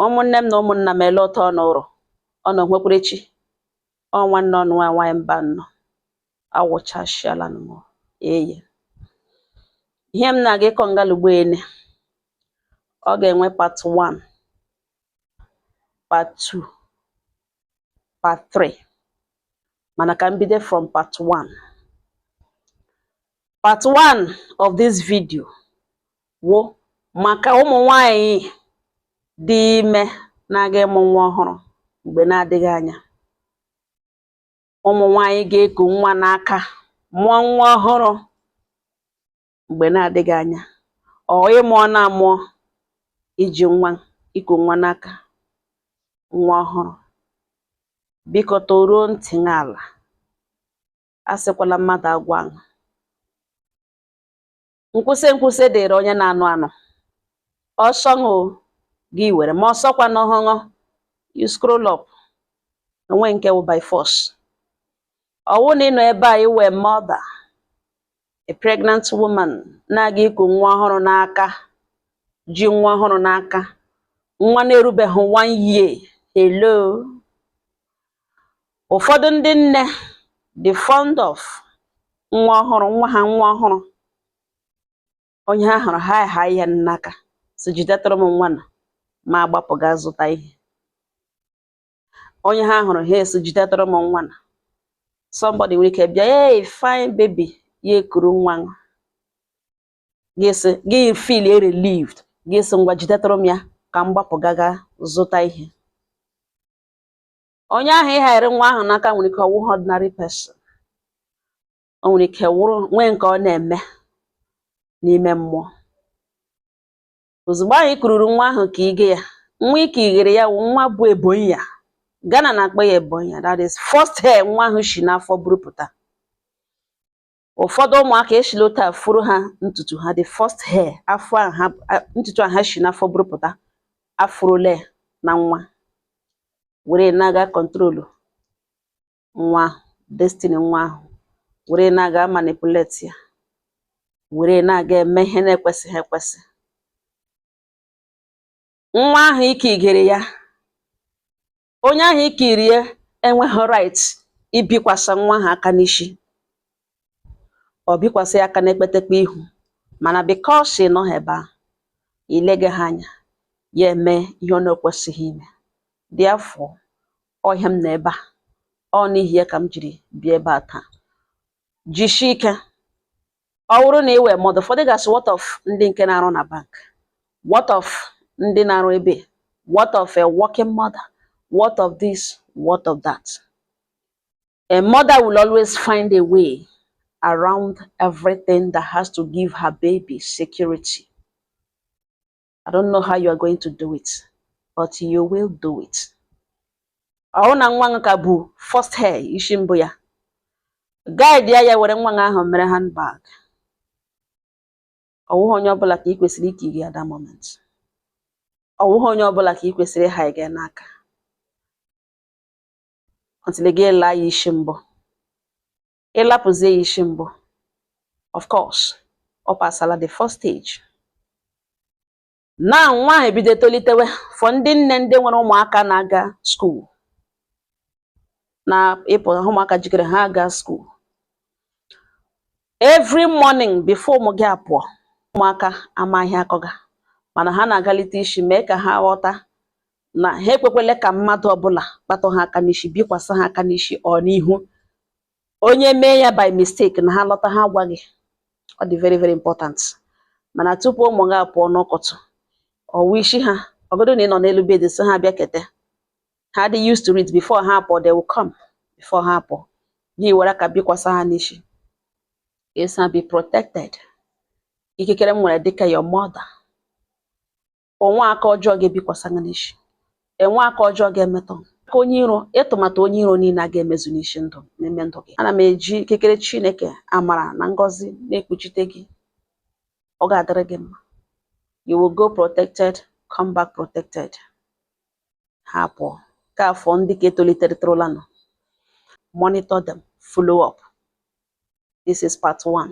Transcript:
ụmụnne m na ụmụnna m ele ụtọ ọnụ ụrọ ọnụ nwekwara echi ọ nwanne ụnụ nwa nwaanyị Mbano awụchashiala m eye ihe m na-aga ịkọ ngalugbo ene ọ ga-enwe part 1 part 2 part 3 mana ka m bido from part 1 part 1 of this video wụ maka ụmụ nwanyị dị ime na-aga ịmụ nwa ọhụrụ mgbe na-adịghị anya ụmụ nwanyị ga-eku nwa n'aka mụọ nwa ọhụrụ mgbe na-adịghị anya or ị mụọna amụọ i ji nwa i ku nwa n'aka nwa ọhụrụ biko tọruo ntị n'ala asịkwala mmadụ agwa nkwụsị nkwụsị dịrị onye na-anụ anụ ọ sọ ṅụ gị were ma ọ sọkwanụhụ ṅụ you scroll up o nwe nke wụ by force ọ wụ na ị nọ ebe a ị wụ a mother a pregnant woman na-aga iku nwa ọhụrụ n'aka ji nwa ọhụrụ n'aka nwa na-erubeghị one year hello ụfọdụ ndị nne dị fond of nwa ọhụrụ nwa ha nwa ọhụrụ onye ha hụrụ ha ahai ya n'aka sị jidetụrụ m nwa na ma agbapụ gaa zụta ihe onye ha hụrụ ha asị jidetụrụ m nwa na somebody nwere ike bịa hey fine baby ya ekuru nwa ga-esi gị feel relieved gị asị ngwa jidetụrụ m ya ka m gbapụ gaga zụta ihe onye ahụ ị hairi nwa ahụ n'aka nwere ike ọ wụghị ordinary person o nwere ike wụrụ nwee nke ọ na-eme n'ime mmụọ ozugbo ahụ ị kururu nwa ahụ ka ị gị ya nwa ike ighere ya wụ nwa bu ebonyi ya Ghana na-akpọ ya ebonyi ya that is first hair nwa ahụ shi n'afọ burupụta ụfọdụ ụmụaka e shila otu a furu ha ntutu ha the first hair afọ a ha a- ntutu a ha shi n'afọ burupụta afụrụle na nwa were na-aga control nwa ahụ, destiny nwa ahụ were na-aga manipulate ya were na-aga eme ihe na-ekwesịghị ekwesị nwa ahụ ike igere ya onye ahụ i kuiri ya enweghị right ibikwasa nwa ahụ aka n'ishi or bikwasa ya aka n'ekpetekpe ihu mana because ị nọghị ebe ahụ i legeha anya ya eme ihe ọ na-ekwesịghị ime therefore ọ ihe m nọ ebe a ọ n'ihi ya ka m jiri bịa ebe a taa jishie ike ọ bụrụ na ị wụ mother ụfọdụ ga-asị what of ndị nke na-arụ na bank what of ndị na-arụ ebe what of a working mother what of this what of that a mother will always find a way around everything that has to give her baby security I don't know how you are going to do it but you will do it ọwụ na nwa ahụ ka bu first hair isi mbụ ya guide ya ya were nwa ahụ mere handbag ọwụghị onye ọbụla ka ị kwesịrị ike iri at that moment ọwụghị onye ọbụla ka ị kwesịrị ịha gị n'aka until gị alaa ya isi mbụ ịlapụzie ya isi mbụ of course ọ pasala the first stage na nwa ahụ ebido tolitewe for ndị nne ndị nwere ụmụaka na-aga school na ịpụ ụmụaka jikere ha aga school every morning before ụmụ gị apụọ ụmụaka amaghị akọga mana ha na-agalite isi mee ka ha ghọta na ha ekwekwele ka mmadụ ọbụla kpatụ ha aka n'isi bikwasa ha aka n'isi or n'ihu onye mee ya by mistake na ha lọta ha gwa gị ọ dị very very important mana tupu ụmụ gị apụọ n'ụtụtụ ọwụ isi ha ọwụgodu na ị nọ n'elu bed sị ha bịakete ha dị used to it before ha apụọ they will come before ha apụọ gị were aka bikwasa ha n'isi sị ha be protected ikikere m nwere dịka your mother onwe aka ọjọọ ga-ebikwasa gị n'isi enwe aka ọjọọ ga-emetụ aka onye iro atụmatụ onye iro niile a ga-emezu n'isi ndụ n'ime ndụ gị ana m eji ikikere Chineke amara na ngọzi na-ekpuchite gị ọ ga-adịrị gị mma you will go protected come back protected ha pụọ ka for ndị ka etoliterịtụrụlanụ monitor them follow up this is part one